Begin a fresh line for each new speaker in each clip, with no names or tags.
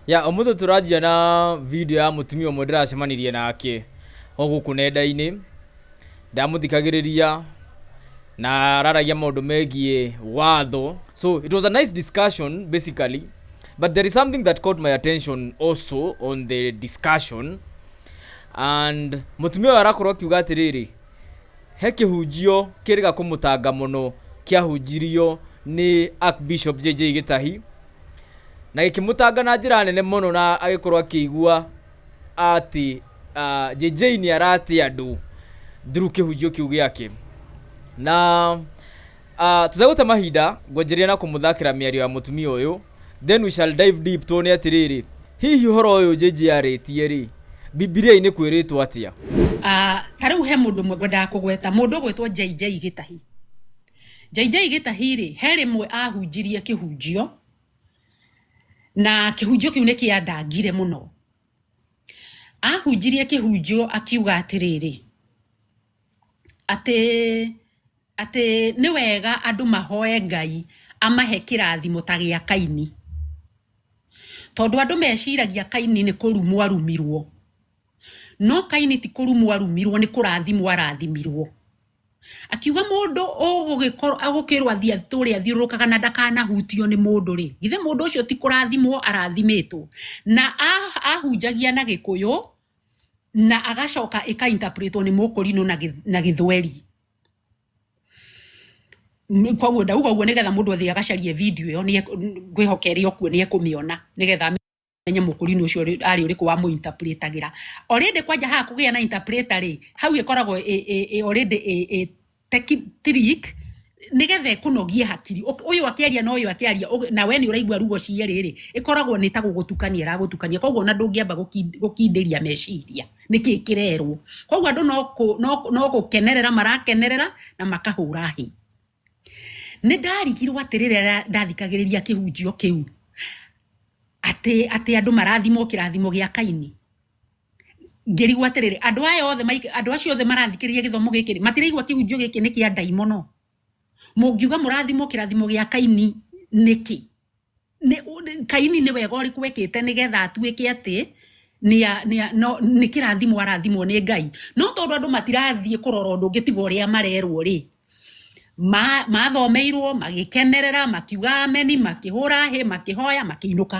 ya ũmũthĩ tũranjia na video ya mũtumia ũmwe ndĩracemanirie nake o gũkũ nenda-inĩ ndamũthikagĩrĩria na araragia maũndũ megiĩ watho so it was a nice discussion basically but there is something that caught my attention also on the discussion and mũtumia ũyũ arakorwo akiuga atĩrĩrĩ He kĩhunjio kĩrĩga kũmũtanga mũno kĩahunjirio nĩ Archbishop JJ Gĩtahi, na gĩkĩmũtanga na njĩra nene mũno na agĩkorwo akĩigua atĩ ah, JJ nĩ aratĩa andũ through kĩhunjio kĩu gĩake. Na Ah, tũtegũte mahinda ngwanjĩrĩria na kũmũthakĩra mĩario ya mũtumia ũyũ then we shall dive deep tuone atĩrĩrĩ hihi ũhoro ũyũ Jĩnji yarĩtie rĩ Bibilia-inĩ kwĩrĩtwo atĩa? Ah, ta rĩu he mũndũ ũmwe ngwendaga kũgweta mũndũ ũgwĩtwo JJ Gĩtahi. JJ Gĩtahi rĩ he rĩmwe ahunjirie kĩhunjio na kĩhunjio kĩu nĩ kĩandangire mũno. Ahunjirie kĩhunjio akiuga atĩrĩrĩ, atĩ atĩ nĩ wega andũ mahoe Ngai amahe kĩrathimo ta gĩa Kaini. Tondũ andũ meciragia Kaini nĩ kũrumwo arumirwo, no Kaini ti kũrumwo arumirwo nĩ kũrathimwo arathimirwo. Akiuga mũndũ ũgũgĩkorwo ũgũkĩrwo athiĩ atũre athiũrũrũkaga na ndakanahutio nĩ mũndũ rĩ, githĩ mũndũ ũcio ti kũrathimwo arathimĩtwo? Na ahunjagia na Gĩkũyũ na agacoka ĩkainterpretwo nĩ mũkũrinũ na gĩthweri koguo ndauga ũguo nĩgetha mũndũ athiĩ agacarie video ĩyo ngwĩhoka ĩrĩ o kuo nĩ ekũmĩona nĩgetha amenye mũkũrinũ ũcio arĩ ũrĩkũ wa mũinterpretagĩra already kwanja haha kũgĩa na interpreter rĩ hau ĩkoragwo already trick nigetha ikunogie hakiri uyu akiaria na uyu akiaria na we ni uraigua rugo cie riri ikoragwo ni ta gugutukania ragutukania koguo na ndungiamba gukindiria meciria niki kirerwo koguo andu no no gukenerera marakenerera na makahura hi ni ndarigirwo atiriri ndathikagiriria kihunjio kiu ati ati andu marathimwo kirathimo gia kaini ngĩrigwo atĩrĩrĩ andũ aya othe maik- andũ acio othe marathikĩrĩria gĩthomo gĩkĩ rĩ, matiraigua kĩhunjio gĩkĩ nĩ kĩa ndaimono mũngiuga mũrathimwo kĩrathimo gĩa kaini nĩkĩ Nĩ- ũ- nĩ- kaini nĩ wega ũrĩkũ wekĩte nĩgetha atuĩke atĩ nĩa- nĩa- no- nĩ kĩrathimo arathimwo nĩ ngai no tondũ andũ matirathiĩ kũrora ũndũ ũngĩ tiga ũrĩa marerwo rĩ ma- mathomeirwo magĩkenerera makiuga ameni makĩhũra hĩ makĩhoya makĩinũka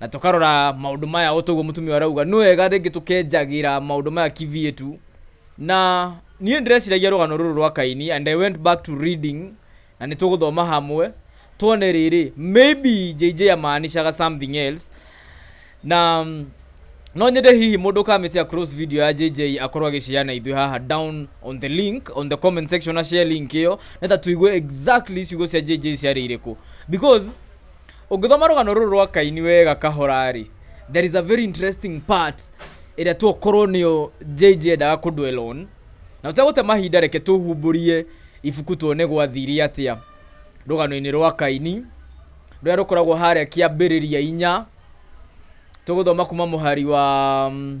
na tũkarora maũndũ maya o toguo mũtumia ũyũ arauga nĩ wega rĩngĩ tũkenjagĩra maũndũ maya kivietu na niĩ ndĩreciragia rũgano rũrũ rwa kaini and i went back to reading na nĩ tũgũthoma hamwe tuone rĩrĩ maybe jj amaanishaga something else na mm, no nyende hihi mũndũ ũkamĩtia cross video ya jj akorwo agĩciana ithuĩ haha down on the link on the comment section na share link ĩyo nĩta tũigue exactly ciugo cia jj ciarĩ irĩkũ because ũngĩthoma rũgano rũrũ rwa kaini wega kahora-rĩ there is a very interesting part ĩrĩa tokorwo nĩyo JJ endaga kũ dwell on na ũtegũte mahinda reke tũhumbũrie ibuku tuone gwathire atĩa rũgano-inĩ rwa kaini rũrĩa rũkoragwo harĩa kĩambĩrĩria inya tũgũthoma kuma mũhari wa mm,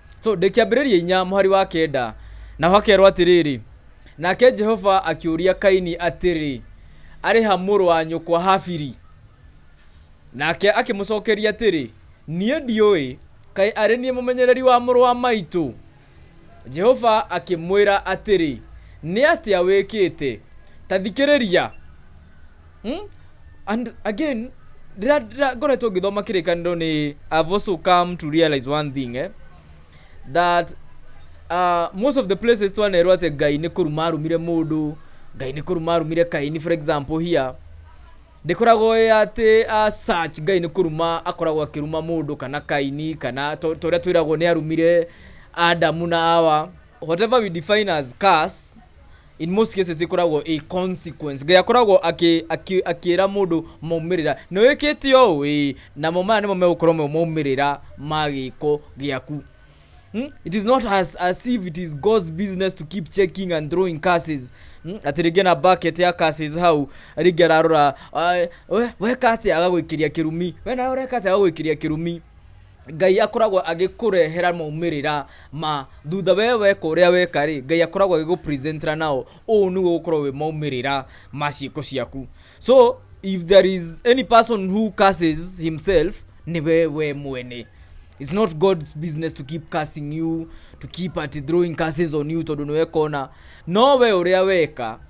so ndĩ kĩambĩrĩria inya mũhari wa kenda naho hakerwo atĩrĩrĩ nake jehova akĩũria kaini atĩrĩ arĩ ha mũrũ wa nyũkwa habiri nake akĩmũcokeria atĩrĩ niĩ ndiũĩ kaĩ arĩ niĩ mũmenyereri wa mũrũ wa maitũ jehova akĩmwĩra atĩrĩ nĩ atĩa wĩkĩte ta thikĩrĩria Hmm? and again ndĩra- ndĩra- ngoretwo ngĩthoma kĩrĩkanĩro nĩ i've also come to realize one thing eh? that uh, most of the places twanerwo atĩ ngai nĩ kũruma arumire mũndũ ngai nĩ kũruma arumire kaini for example here ndĩkoragwo ĩ atĩ uh, search ngai nĩ kũruma akoragwo akĩruma mũndũ kana kaini kana to- torĩa twĩragwo nĩ arumire adamu na awa whatever we define as curse in most cases ikoragwo a consequence ngai akoragwo akĩ- akĩ- akĩra mũndũ maumĩrĩra nĩ wĩkĩte ũũ ĩĩ namo maya nĩmo megũkorwo mo maumĩrĩra ma gĩko gĩaku Hmm? It is not as, as if it is God's business to keep checking and throwing curses. Hmm? Atĩ rĩngĩ na bucket ya curses hau, rĩngĩ ararora, "Ai, we, weka atĩa agagwĩkĩria kĩrumi, we nawe ũreka atĩa agagwĩkĩria kĩrumi. Ngai akoragwo agĩkũrehera maumĩrĩra ma thutha we weka ũrĩa weka rĩ, Ngai akoragwo agĩgũ present -a nao, ũũ nĩguo gũkorwo wĩ maumĩrĩra ma ciĩko ciaku. So if there is any person who curses himself nĩ we we mwene. It's not God's business to keep cursing you, to keep at throwing curses on you tondũ nĩ weka ũna. No we ũrĩa weka,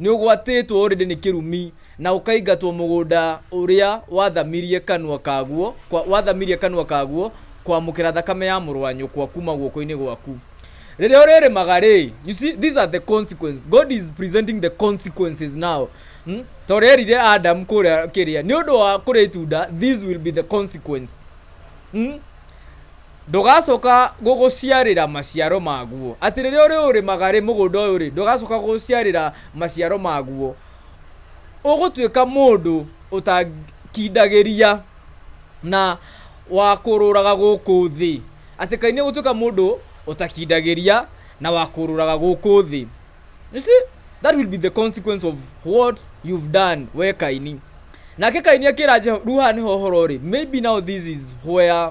Nĩũgwatĩtwo ũrĩndĩ nĩ kĩrumi, na ũkaingatwo mũgũnda ũrĩa wathamirie kanua kaguo, kwa, wathamirie kanua kaguo kwamũkĩra thakame ya mũrũ wa nyũkwa kuuma guoko-inĩ gwaku. Rĩrĩa ũrĩrĩmaga-rĩ, you see, these are the consequences. God is presenting the consequences now. Hmm? Ta ũrĩa erire Adam kũrĩa kĩrĩa, nĩ ũndũ wa kũrĩa itunda, these will be the consequence. Hmm? Ndũgacoka gũgũciarĩra maciaro maguo. Atĩ rĩrĩa ũrĩũrĩmaga-rĩ, mũgũnda ũyũ-rĩ, ndũgacoka gũgũciarĩra maciaro maguo. Ũgũtuĩka mũndũ ũtakindagĩria na wa kũũrũraga gũkũ thĩ. Atĩ Kaĩ nĩũgũtuĩka mũndũ ũtakindagĩria na wa kũũrũraga gũkũ thĩ. You see, that will be the consequence of what you've done, wee Kaini. Nake Kaini akĩra Jehova, rĩu haha nĩho ũhoro ũrĩ, maybe now this is where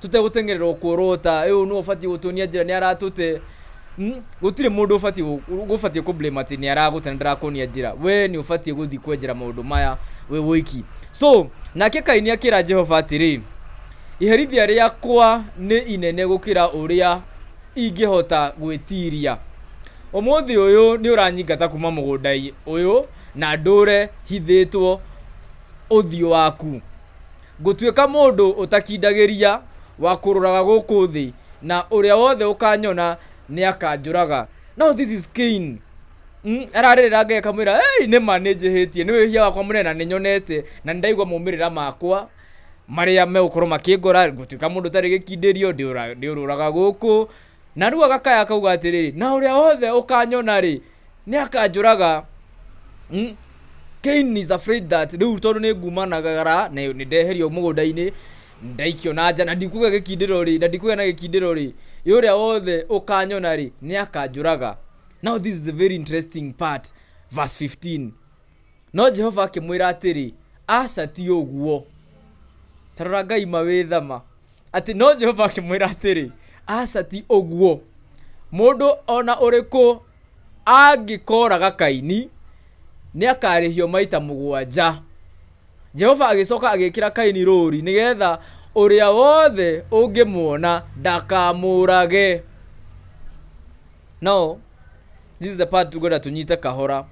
tũtegũteng'erera o kũrũũta, ĩ ũyũ nĩwe ũbatiĩ gũtuonia njĩra nĩ aratũte, mm, gũtirĩ mũndũ ũbatiĩ gũ- gũbatiĩ kũ blame atĩ nĩ aragũte na ndarakuonia njĩra, we nĩ ũbatiĩ gũthiĩ kwenjera maũndũ maya wĩ wiki. So, nake Kaini akĩra Jehova atĩrĩ, iherithia rĩakwa nĩ inene gũkĩra ũrĩa ingĩhota gwĩtiria. Ũmũthĩ ũyũ nĩ ũranyingata kuma mũgũnda ũyũ na ndũre hithĩtwo ũthiũ waku. Ngũtuĩka mũndũ ũtakindagĩria, wa kũrũraga gũkũ thĩ, na ũrĩa wothe ũkanyona nĩakanjũraga. Now this is Cain. Mm, ararĩrĩra Ngai akamwĩra, hey, nĩ ma nĩ njĩhĩtie, nĩ wĩhia wakwa mũnene na nĩ nyonete, na nĩ ndaigua maumĩrĩra makwa marĩa megũkorwo makĩngora, ngũtuĩka mũndũ ũtarĩ gĩkindĩrio, ndĩũra- ndĩũrũraga gũkũ, Narua gakaya kauga atĩrĩrĩ, na ũrĩa wothe ũkanyona-rĩ, nĩ akanjũraga. Mm. Cain is afraid that rĩu tondũ nĩ ngumanagara na nĩ ndeherio mũgũnda-inĩ ndaikio na nja na ndikũgĩa gĩkindĩro-rĩ na ndikũgĩa na gĩkindĩro-rĩ ĩ ũrĩa wothe ũkanyona-rĩ nĩ akanjũraga now this is a very interesting part verse 15 No Jehova akĩmwĩra atĩrĩ, Aca ti ũguo. Ta rora Ngai mawĩthama. Atĩ no Jehova akĩmwĩra atĩrĩ, Aca ti ũguo. Mũndũ ona ũrĩkũ angĩkoraga Kaini, nĩ akarĩhio maita mũgwanja. Jehova agĩcoka agĩkĩra Kaini rũũri nĩgetha ũrĩa wothe ũngĩmuona ndakamũrage. Now, this is the part tũkwenda tũnyite kahora.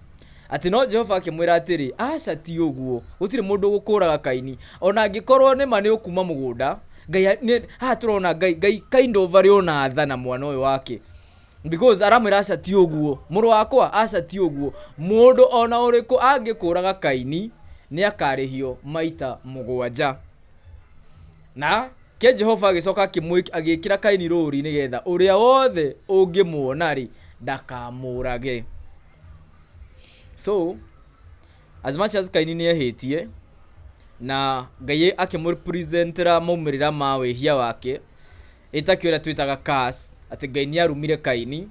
atĩ no jehova akĩmwĩra atĩrĩ aca ti ũguo gũtirĩ mũndũ ũgũkũraga kaini ona angĩkorwo nĩma nĩ ũkuma mũgũnda ngai a- nĩ- haha tũrona ngai ngai kind of arĩ ona tha na mwana ũyũ wake because aramwĩra aca ti ũguo mũrũ wakwa aca ti ũguo mũndũ ona ũrĩkũ angĩkũraga kaini nĩ akarĩhio maita mũgwanja na ke jehova agĩcoka akĩmwĩ- agĩkĩra kaini rũũri nĩgetha ũrĩa wothe ũngĩmuona-rĩ ndakamũrage So, as much as Kaini nĩ ehĩtie, na Ngai akĩmũ present ra maumĩrĩra ma wĩhia wake, ĩtakĩo ĩrĩa twĩtaga curse, atĩ Ngai nĩ arumire Kaini,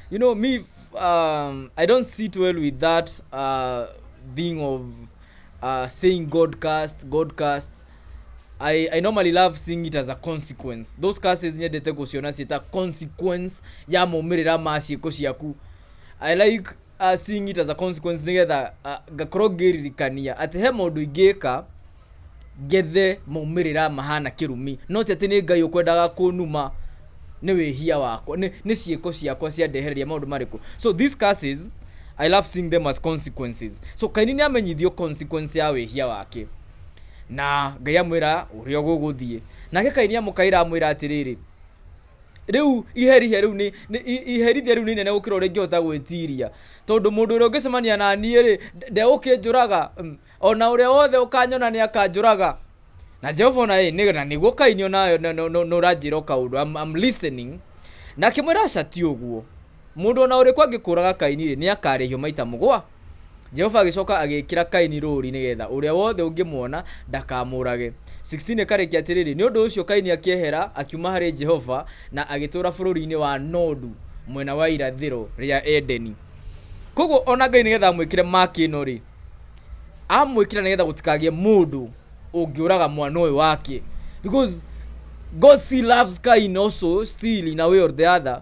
you know me, um, I don't sit well with that uh, thing of uh, saying God cast, God cast. I, I normally love seeing it as a consequence. Those curses nyendete gũciona ciĩ ta consequence ya maumĩrĩra ma ciĩko ciaku. I like uh, seeing it as a consequence nĩgetha uh, ngakorwo ngĩririkania atĩ he maũndũ ingĩka ngethe maumĩrĩra mahana kĩrumi no ti atĩ nĩ ngai ũkwendaga kũnuma nĩ wĩhia wakwa nĩ nĩ ciĩko ciakwa ciandehereria maũndũ marĩkũ so these curses i love seeing them as consequences so kaini nĩ amenyithio consequence ya wĩhia wake na ngai amwĩra ũrĩa ũgũgũthiĩ nake kaini amũkaĩra amwĩra atĩrĩrĩ rĩu iherithia rĩu nĩ nĩ- i- iherithia rĩu nĩ inene gũkĩra ũrĩa ingĩhota gwĩtiria tondũ mũndũ ũrĩa ũngĩcemania na niĩ rĩ ndegũkĩnjũraga Mm. ona ũrĩa wothe ũkanyona nĩ akanjũraga na jehova ona ĩ nĩ- na nĩguo kainio nayo nĩ ũranjĩra o kaũndũ I'm, I'm listening na akĩmwĩra aca ti ũguo Mũndũ o na ũrĩkũ angĩkũũraga Kaini-rĩ, nĩakarĩhio maita mũgwa. Jehova agĩcoka agĩĩkĩra Kaini rũũri nĩ geetha ũrĩa wothe ũngĩmuona ndakamũũrage. 16 ĩkarĩkia atĩrĩrĩ, Nĩ ũndũ ũcio Kaini akĩehera akiuma harĩ Jehova na agĩtũũra bũrũri-inĩ wa Nodu mwena wa irathĩro rĩa Edeni. Kwoguo o na Ngai nĩ geetha amwĩkĩre mark ĩno-rĩ, amwĩkĩra nĩ geetha gũtikagĩe mũndũ ũngĩũraga mwana ũyũ wake because God still loves Kain also still in a way or the other.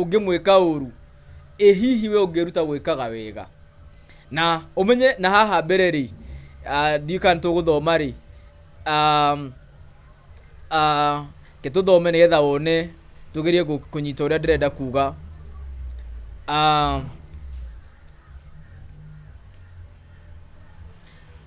ũngĩmwĩka ũru, ĩ hihi we ũngĩĩruta gwĩkaga wega? Na ũmenye na haha mbere rĩ, ndiũĩ kana nĩ tũgũthoma rĩ, reke tũthome nĩgetha wone, tũgerie kũnyita ũrĩa ndĩrenda kuuga.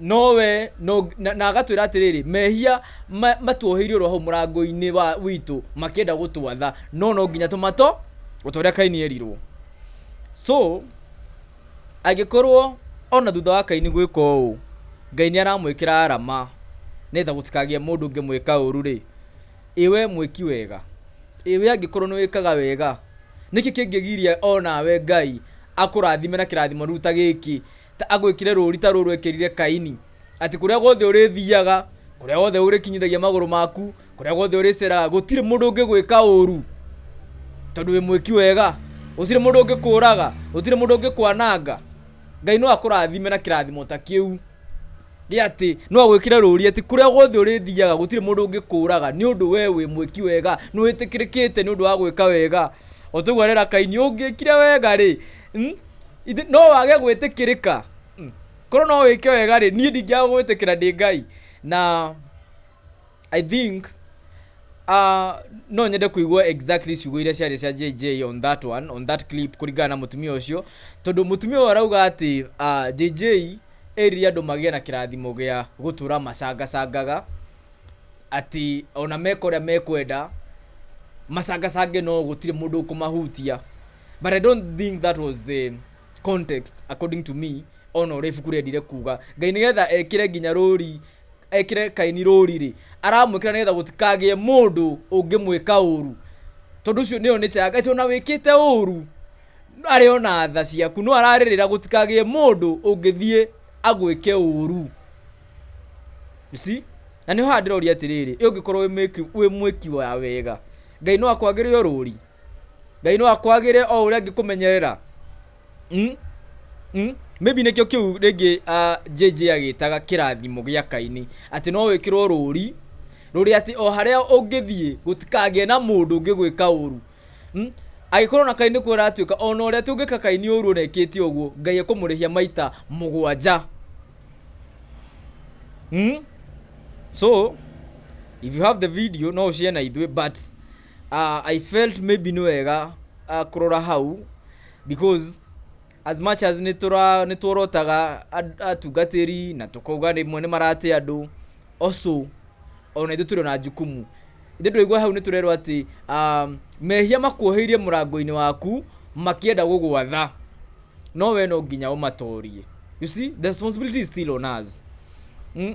Nowe no, na, na agatwĩra atĩrĩrĩ mehia ma, matuoheirio roho mũrango-inĩ wa witũ makĩenda gũtwatha no no nginya tũmato ũtorĩa kaini erirwo so angĩkorwo ona thutha wa kaini gwĩka ũũ ngai nĩ aramwĩkĩra arama nĩgetha gũtikagĩe mũndũ ũngĩmwĩka ũru rĩ ĩwe mwĩki wega ĩwe angĩkorwo nĩ wĩkaga wega nĩkĩ kĩngĩgiria onawe ngai akũrathime na kĩrathimo rĩu ta gĩkĩ Ta agwĩkire rũũri ta rũrũ ekĩrire Kaini, atĩ kũrĩa guothe ũrĩthiaga, kũrĩa guothe ũrĩkinyithagia magũrũ maku, kũrĩa guothe ũrĩceraga, gũtirĩ mũndũ ũngĩgwĩka ũũru, tondũ wĩ mwĩki wega. Gũtirĩ mũndũ ũngĩkũũraga, gũtirĩ mũndũ ũngĩkwananga. Ngai no akũrathime na kĩrathimo ta kĩu, gĩa atĩ no agwĩkĩre rũũri atĩ kũrĩa guothe ũrĩthiaga gũtirĩ mũndũ ũngĩkũũraga, nĩ ũndũ wee wĩ mwĩki wega, nĩ wĩtĩkĩrĩkĩte nĩ ũndũ wa gwĩka wega. O ta ũguo arera Kaini, ũngĩkire wega-rĩ... Mm? Ithe- no wage gwĩtĩkĩrĩka Mm. korwo no wĩke wega rĩ niĩ ndingĩaga gwĩtĩkĩra ndĩ ngai na i think uh, no nyende kuigua exactly ciugo iria ciarĩ cia jj on that one on that clip kũringana na mũtumia ũcio tondũ mũtumia ũyũ arauga atĩ uh, jj erire andũ magĩe na kĩrathimo gĩa gũtũra macangacangaga atĩ ona meka ũrĩa mekwenda macangacange no gũtirĩ mũndũ ũkũmahutia but i don't think that was the context according to me ona ũrĩa ibuku rĩendire kuga ngai nĩgetha ekĩre nginya rũri ekĩre kaini rũri rĩ aramwĩkĩra nĩgetha gũtikagĩe mũndũ ũngĩmwĩka ũru tondũ ũcio nĩyo nature ya ngai tondũ ona wĩkĩte ũru arĩ ona tha ciaku no ararĩrĩra gũtikagĩe mũndũ ũngĩthiĩ agwĩke ũru You see? na nĩho haha ndĩroria atĩrĩrĩ ĩ ũngĩkorwo wĩ mwĩki- wĩ mwĩki wa wega ngai no akwagĩrĩo rũri ngai no akwagĩre o ũrĩa angĩkũmenyerera mm? Mm? maybe nĩkĩo kĩu rĩngĩ ah, jj agĩtaga kĩrathimo gĩa kaini atĩ no wĩkĩrwo rũri rũrĩa atĩ o harĩa ũngĩthiĩ gũtikagĩe na mũndũ ũngĩ gwĩka ũru Mm? agĩkorwo na kaini kuo aratuĩka ona ũrĩa atĩ ũngĩka kaini ũru ona ekĩte ũguo ngai ekũmũrĩhia maita mũgwanja Mm? so if you have the video no ũcĩe na ithuĩ but Uh, I felt maybe nĩ wega uh, kũrora hau because as much as nĩ tũra- nĩ tuorotaga and- atungatĩri na tũkauga rĩmwe nĩ marate andũ also ona ithuĩ tũrĩ na jukumu ithe ndũigua hau nĩ tũrerwo atĩ um, mehia makuoheirie mũrango-inĩ waku makĩenda gũgwatha no we no nginya ũmatorie you see the responsibility is still on us mm?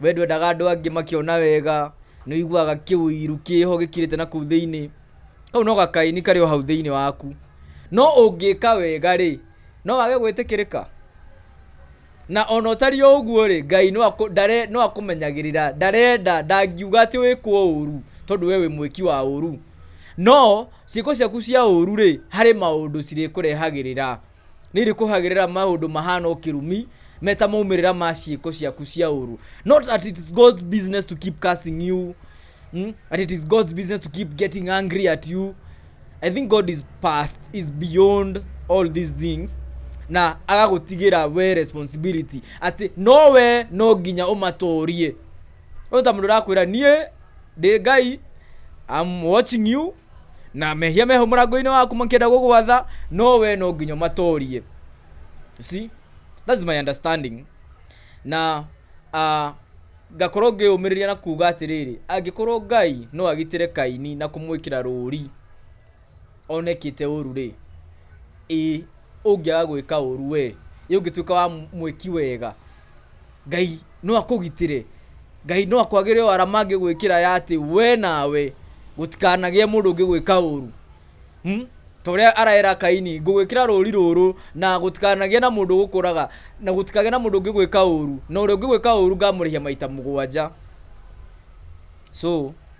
We ndwendaga andũ angĩ makĩona wega, nĩ ũiguaga kĩũiru kĩho gĩkirĩte na kũu thĩinĩ. Kau no gakaĩni karĩ o hau thĩinĩ waku. No ũngĩka wega rĩ, no wage gwĩtĩkĩrĩka? Na ona ũtariĩ o ũguo rĩ, Ngai no no akũmenyagĩrĩra, ndarenda, ndangiuga atĩ wĩkwo ũru tondũ we wĩ mwĩki wa ũru. No, ciĩko ciaku cia ũru rĩ, harĩ maũndũ cirĩkũrehagĩrĩra. nĩirĩkũhagĩrĩra maũndũ mahana ũkĩrumi meta maumĩrĩra ma ciĩko ciaku cia ũru not that it is God's business to keep cursing you mm? that it is God's business to keep getting angry at you I think God is past is beyond all these things na agagũtigĩra we responsibility atĩ no we no nginya ũmatũrie ũyũ ta mũndũ ũrakwĩra niĩ ndĩ ngai I'm watching you na mehia meho mũrango-inĩ waku makĩenda gũgwatha no we no nginya matorie You see that's my understanding na uh, ngakorwo ngĩyũmĩrĩria na kuga atĩrĩrĩ angĩkorwo ngai no agitĩre kaini na kũmwĩkĩra rũri onekĩte ũru rĩ ĩ ũngĩaga gwĩka ũru we ĩ ũngĩtuĩka wa mwĩki wega Ngai no akũgitĩre. Ngai no akwagĩre o arama angĩgwĩkĩra ya atĩ we nawe gũtikanagĩe mũndũ ũngĩgwĩka ũru. Hmm? Ta ũrĩa araera Kaini, ngũgwĩkĩra rũũri rũrũ na gũtikanagĩe na mũndũ ũgũkũraga na gũtikagĩe na mũndũ ũngĩgwĩka ũru. Na ũrĩa ũngĩgwĩka ũru ngamũrĩhia maita mũgwanja. So...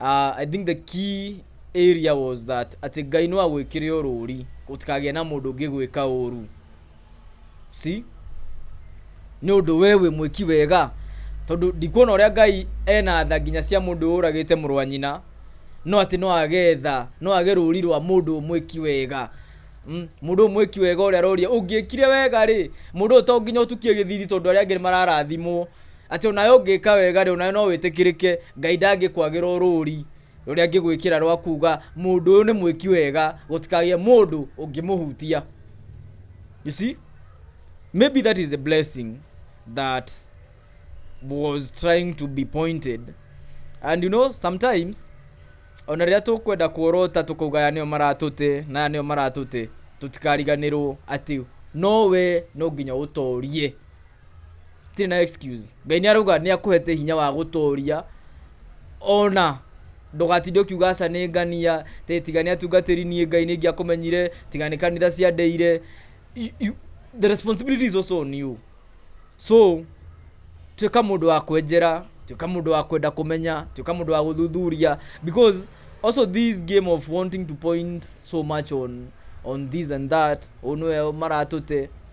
uh, i think the key area was that atĩ ngai no agwĩkĩre o rũũri gũtikagĩa na mũndũ ũngĩ gwĩka ũũru si nĩ ũndũ we wĩ mwĩki wega tondũ ndikuona ũrĩa ngai ena tha nginya cia mũndũ ũragĩte mũrũ wa nyina no atĩ no agetha no age rũũri rwa mũndũ mwĩki wega Mm, mũndũ ũyũ mwĩki wega ũrĩa aroria ũngĩkire wega rĩ mũndũ ũyũ to nginya ũtukie gĩthithi tondũ arĩa angĩ nĩ mararathimwo Atĩ o nawe ũngĩka wega-rĩ, o nawe no wĩtĩkĩrĩke, Ngai ndangĩkwagĩra ũrũũri rũrĩa angĩgwĩkĩra rwa kuuga, Mũndũ ũyũ nĩ mwĩki wega, gũtikagĩe mũndũ ũngĩmũhutia. You see? Maybe that is the blessing that was trying to be pointed. And you know, sometimes ona rĩrĩa tũkwenda kuorota tũkauga aya nĩo maratũte na aya nĩo maratũte tũtikariganĩrwo atĩ no we no nginya ũtorie itirĩ na excuse ngai nĩ arauga nĩ akũhete hinya wa gũtooria ona ndũgatinde ũkiuga aca nĩ ngania tä tiga nä atungatä niä ngai nä ngä akåmenyire tiga nä kanitha ciandeire You- you- the responsibility is also on you so tuä ka må ndå wa kwenjera tuä ka må ndå wa kwenda kå menya tuä ka må ndå wa gå thuthuria because also this game of wanting to point so much on on this and that å nä we maratå te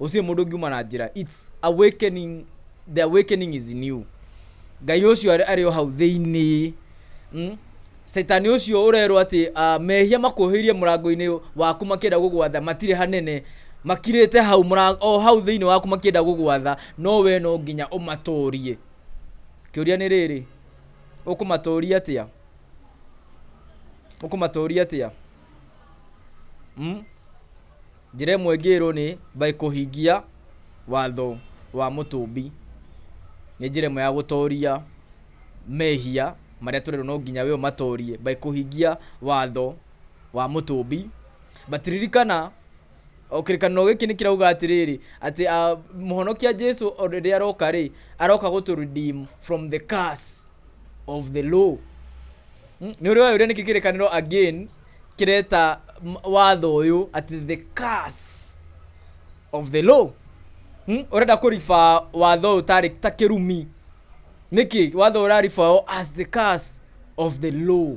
gũtirĩ mũndũ ũngiuma na njĩra it's awakening the awakening is in you ngai ũcio arĩ arĩ o hau thĩinĩ mm? caitani ũcio ũrerwo atĩ ah, mehia makuohĩirie mũrango-inĩ waku makĩenda gũgwatha matirĩ hanene makirĩte hau mũra- o hau thĩinĩ waku makĩenda gũgwatha no we no nginya ũmatũrie kĩũria nĩ rĩrĩ ũkũmatũria atĩa ũkũmatũria atĩa Njĩra ĩmwe ngĩrwo nĩ by kũhingia watho wa mũtũmbi. Nĩ njĩra ĩmwe ya gũtoria mehia marĩa tũrerwo no nginya we ũmatorie by kũhingia watho wa mũtũmbi. But ririkana... o kĩrĩkanĩro gĩkĩ nĩ kĩrauga atĩrĩrĩ atĩ ah, mũhonokia jesu o rĩrĩa aroka rĩ aroka gũtũ redeem from the curse of the law Mm, nĩ ũrĩ wayũria nĩkĩ kĩrĩkanĩro again kĩreta m- watho ũyũ atĩ the curse of the law Mm, ũrenda kũriba watho ũyũ tarĩ ta kĩrumi nĩkĩ watho ũraribawo as the curse of the law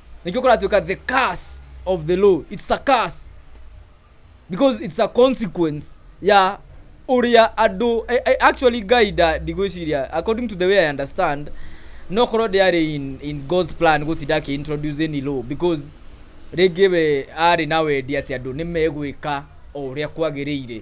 nĩkĩo kũratuĩka the curse of the law it's a curse because it's a consequence ya ũrĩa andũ I, I, actually guy nda ndigwĩciria according to the way i understand no korwo ndĩarĩ in, in god's plan gũtinda akĩintroduce any law because rĩngĩ we arĩ na wendi atĩ andũ nĩ megwĩka o ũrĩa kwagĩrĩire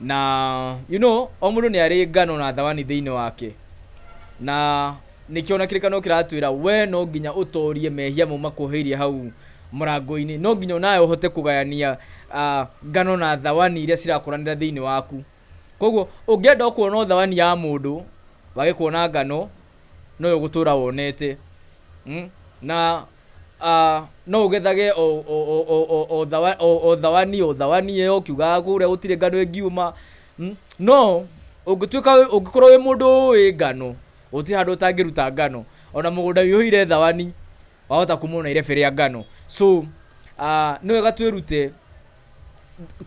Na, you know, o mũndũ nĩ arĩ ngano na thawani thĩinĩ wake. Na nĩkĩo ona kĩrĩkanĩro kĩratwĩra, wee no nginya ũtoorie mehia mau makuoheirie hau mũrango-inĩ. No nginya o nawe ũhote kũgayania ngano na thawani iria cirakũranĩra thĩinĩ waku. Kwoguo, ũngĩenda o kuona o thawani ya mũndũ, wage kuona ngano, noyo ũgũtũũra wonete. Na No ũgethage o thawani o thawani ĩyo ũkiugaga kũrĩa gũtirĩ ngano ĩngiuma. No ũngĩtuĩka ũngĩkorwo wĩ mũndũ ũĩ ngano, gũtirĩ handũ ũtangĩruta ngano. Ona mũgũnda wĩihũire thawani wahota kuuma ona irebe rĩa ngano. So nĩ wega twĩrute.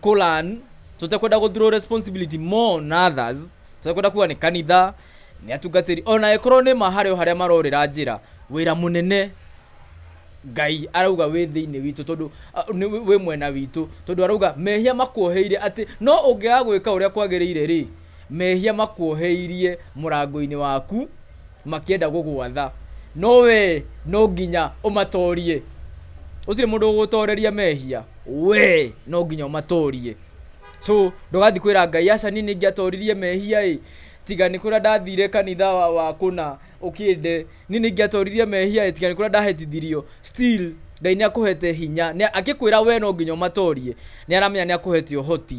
Quran tũtekwenda gå throw responsibility more on others tũtekwenda kuga nĩ kanitha nĩ atungatĩri ona ĩkorwo nĩ ma harĩ o harĩa marorĩra njĩra wĩra mũnene ngai arauga wĩ thĩinĩ witũ tondũ a, nĩ wĩ- wĩ mwena witũ tondũ arauga mehia makuoheire atĩ no ũngĩaga gwĩka ũrĩa kwagĩrĩire rĩ mehia makuoheirie mũrango-inĩ waku makĩenda gũgwatha, no wee no nginya ũmatorie. Gũtirĩ mũndũ ũgũgũtoreria mehia, wee no nginya ũmatorie. So ndũgathiĩ kwĩra Ngai aca niĩ nĩingĩatoririe mehia ĩ, tiga nĩ kũrĩa ndathire kanitha wa wa kũna ũkĩnde, niĩ nĩingĩatoririe mehia ĩ, tiga nĩ kũrĩa ndahĩtithirio. Still Ngai nĩakũhete hinya, nĩa, akĩkwĩra wee no nginya ũmatorie, nĩaramenya nĩakũhete ũhoti.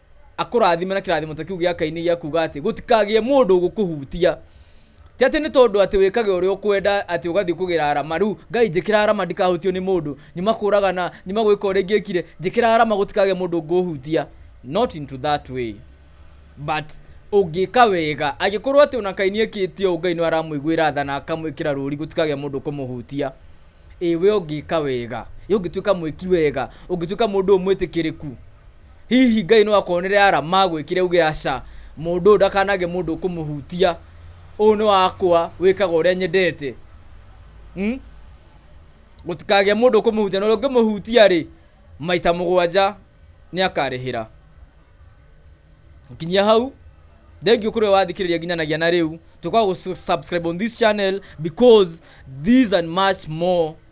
akũrathime na kĩrathimo ta kĩu gĩa kaini gĩa kuga atĩ gũtikagĩe mũndũ ũgũkũhutia ti atĩ nĩ tondũ atĩ wĩkage ũrĩa ũkwenda atĩ ũgathiĩ kũgĩra arama rĩu ngai njĩkĩra arama ndikahutio nĩ mũndũ nyuma kũragana nyuma gwĩka ũrĩa ingĩkire njĩkĩra arama gũtikagĩe mũndũ ũngũhutia not into that way but ũngĩka wega angĩkorwo atĩ ona kaini ekĩte ũũ ngai nĩ aramũiguĩra tha na akamwĩkĩra rũri gũtikagĩa mũndũ kũmũhutia ĩ we ũngĩka wega ĩ ũngĩtuĩka mwĩki wega ũngĩtuĩka mũndũ ũyũ mwĩtĩkĩrĩku Hihi Ngai no akuonere arama agwĩkĩre uge aca, mũndũ ũyũ ndakanage mũndũ ũkũmũhutia, ũyũ nĩ wakwa, wĩkaga ũrĩa nyendete. Hmm? Gũtikagĩe mũndũ ũkũmũhutia, na ũrĩa ũngĩmũhutia rĩ, maita mũgwanja nĩ akarĩhĩra. Nginya hau, thank you kuri we wathikiriria nginyanagia na riu tukwa subscribe on this channel because these and much more